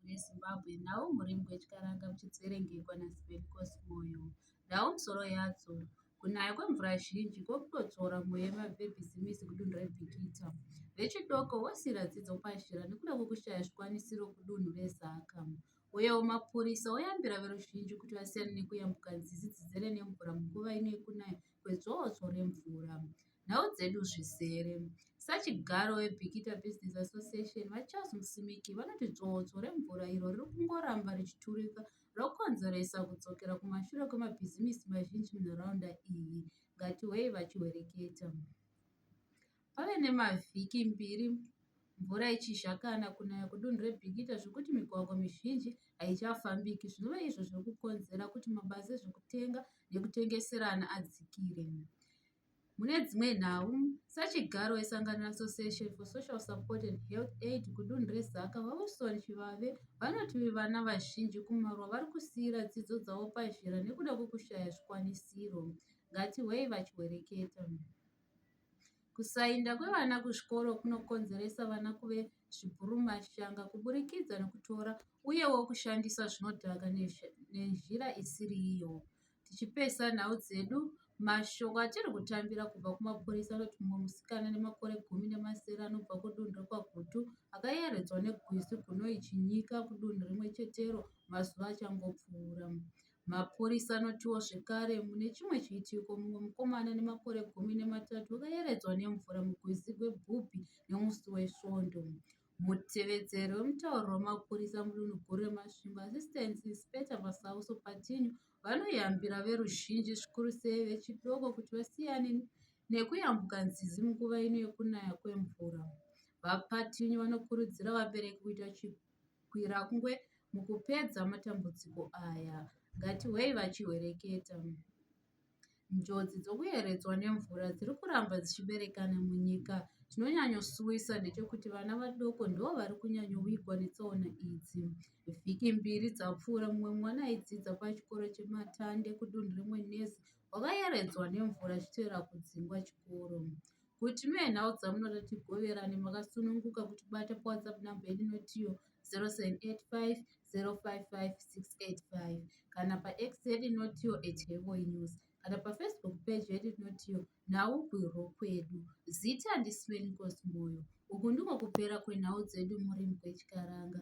reZimbabwe nhau murembwe chikaranga muchidzerengekwa naSivencos Moyo nhau musoro yadzo kunaya kwemvura zhinji kwokutotsora mweya yemabhebhizimisi kudunhu reBikita vechidoko vosiira dzidzo pazhira nekuda kwekushaya zvikwanisiro kudunhu reZaka uyewo mapurisa oyambira veruzhinji kuti vasiyane nekuyambuka nzizi dzidzere nemvura munguva ino yekunaya kwedzowodzo remvura nhau dzedu zvizere. Sachigaro weBikita Business Association, VaCharles Musimiki, vanoti dzvotso remvura iro riri kungoramba richiturika rokonzeresa kudzokera kumashure kwemabhizimisi mazhinji munharaunda iyi. Ngatiwei vachiwereketa. Pave nemavhiki mbiri mvura ichizhakana kunaya kudunhu rebikita zvekuti migwagwa mizhinji haichafambiki zvinova izvo zviri kukonzera kuti mabasa ezvekutenga nekutengeserana adzikire Mune dzimwe nhau, sachigaro wesangano reAssociation for Social Support and Health Aid kudunhu reZaka, VaWilson Chivave, vanoti vana vazhinji kumaruwa vari kusiira dzidzo dzavo pazhira nekuda kwekushaya zvikwanisiro. Ngatihwei vachihwereketa. Kusainda kwevana kuzvikoro kunokonzeresa vana kuve zvibhurumashanga kuburikidza nekutora uyewo kushandisa zvinodhaka nenzira isiri iyo. tichipesana nhau dzedu mashoko atiri kutambira kubva kumapurisa anoti mumwe musikana nemakore gumi nemasere anobva kudunhu rekwagutu akayeredzwa negwizi gunoi chinyika kudunhu rimwe chetero mazuva achangopfuura mapurisa anotiwo zvekare mune chimwe chiitiko mumwe mukomana nemakore gumi nematatu akayeredzwa nemvura mugwizi gwebhubhi nemusi wesvondo Mutevedzeri wemutauro wemapurisa mudunhu guru reMasvingo, Assistant Inspector Masauso Patinyu, vanoyambira veruzhinji zvikuru sei vechidoko kuti vasiyane nekuyambuka nzizi munguva ino yekunaya kwemvura. VaPatinyu vanokurudzira vabereki kuita chigwirakungwe mukupedza matambudziko aya. Ngatihwei vachihwereketa. Njodzi dzokuyeredzwa nemvura dziri kuramba dzichiberekana munyika. Chinonyanyosuwisa ndechekuti vana vadoko ndivo vari kunyanyovigwa netsaona idzi. Vhiki mbiri dzapfuura, mumwe mwana aidzidza pachikoro cheMatande kudunhu reMwenezi wakayeredzwa nemvura achitevera kudzingwa chikoro. Kuti muye nhau dzamunoda tigoverane makasununguka kutibata pawhatsapp number yedu inotiyo 0785055685 kana pax yedu inotiyo at hevoy news kana pafacebook page yedu inotiyo nhau gwiro kwedu zita ndisven kosmoyo uku ndiko kupera kwenhau dzedu murimi kwechikaranga